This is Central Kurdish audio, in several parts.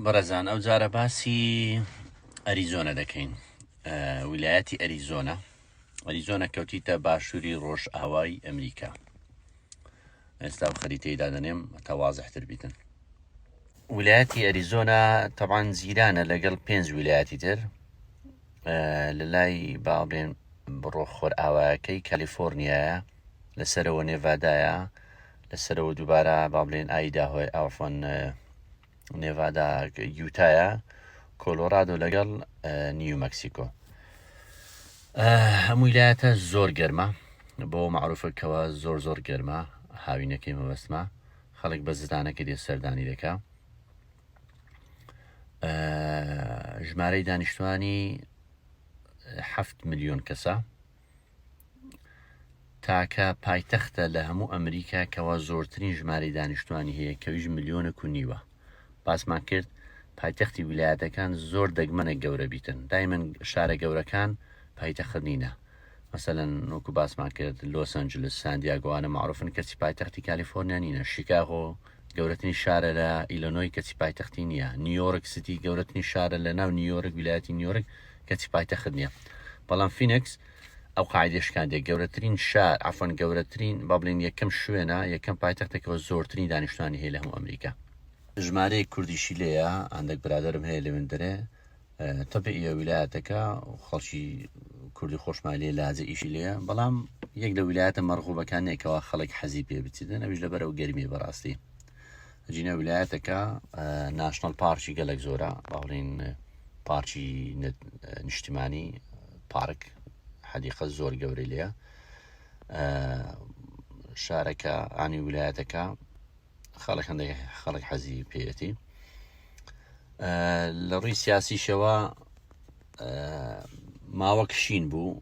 بەڕێزان ئەو جارە باسی ئەریزۆنە دەکەین ویلایەتی ئەریزۆنە ئەریزۆنە کەوتیتە باشووری ڕۆژ ئاوای ئەمریکا ئێستا و خەریتەی دادەنێم تەوازحتر بیتن ویلایەتی ئەریزۆنا تەبان زیرانە لەگەڵ پێنج ویلایەتی تر لە لای باڵێن بڕۆ خۆر ئاواکەی کەلیفۆرنیایە لەسەرەوە نێڤدایە لەسەرەوە دووبارە با بڵێن ئایدا هۆی ئافۆن نێڤادا یوتایە کۆلۆرادۆ لەگەڵ نیو مەکسیکۆ هەمووی لایەتە زۆر گەرمە بۆ معروفەکەەوە زۆر زۆر گەرمە هاوینەکەی مەبەستمە خەڵک بە زدانەکە دێ سەردانی دەکە ژمارەی دانیشتوانی هەفت میلیۆن کەسە تاکە پایتەختە لە هەموو ئەمریکا کەوا زۆرترین ژمارەی دانیشتوانی هەیە کەویش ملیۆنە کونیوە باسمان کرد پایتەختی ویلایەتەکان زۆر دەگمەنە گەورە بیتن دایمن شارە گەورەکان پایتەخنینە مەسەەن نۆکو باسمان کرد لۆسەنجلس ساندیاگوانە معروفن کەچی پایتەختی کالیفۆرنیا نینە شیکاغۆ گەورەتنی شارە لە ئیلۆنۆی کەچی پایتەختی نییە نیویۆرک سیتی گەورەتنی شارە لە ناو نیویۆرک ویلایەتی نیویۆرک کەچی پایتەخت نیە بەڵام فینکس ئەو قاعدە شکاندێک گەورەترین شار ئەفۆن گەورەترین بابلین یەکەم شوێنە یەکەم پایتەختێکەوە زۆرترین دانیشتوانی هەیە لە هەموو ئەمریکا ژمارەیەک کوردیشی لێیە ئەندەک برادرم هەیە لەوێن دەرێ تەبعی ئە ویلایەتەکە خەڵکی کوردی خۆشمان لێ لاجە ئیشی لێە بەڵام یەک لە ویلایەتە مەرغوبەکانێکەوە خەڵک حەزی پێ بچیدن ئەوش لەبەر ئەو گەرمی بەڕاستی جینە ولایەتەکە ناشنل پارکی گەلک زۆرە باڵین پارکی نیشتیمانی پارک حەدیقە زۆر گەورە لێە شارەکە ئانی ولایەتەکە خەڵک هەندێک خەڵک حەزی پێەتی لە ڕووی سیاسیشەوە ماوە کشین بوو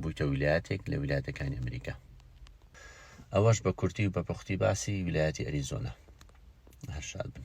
بوویتە ویلایەتێک لە ویلایەتەکانی ئەمریکا ئەوەش بە کورتی و بە پوختی باسی ویلایەتی ئەریزۆنا هەر شاد بن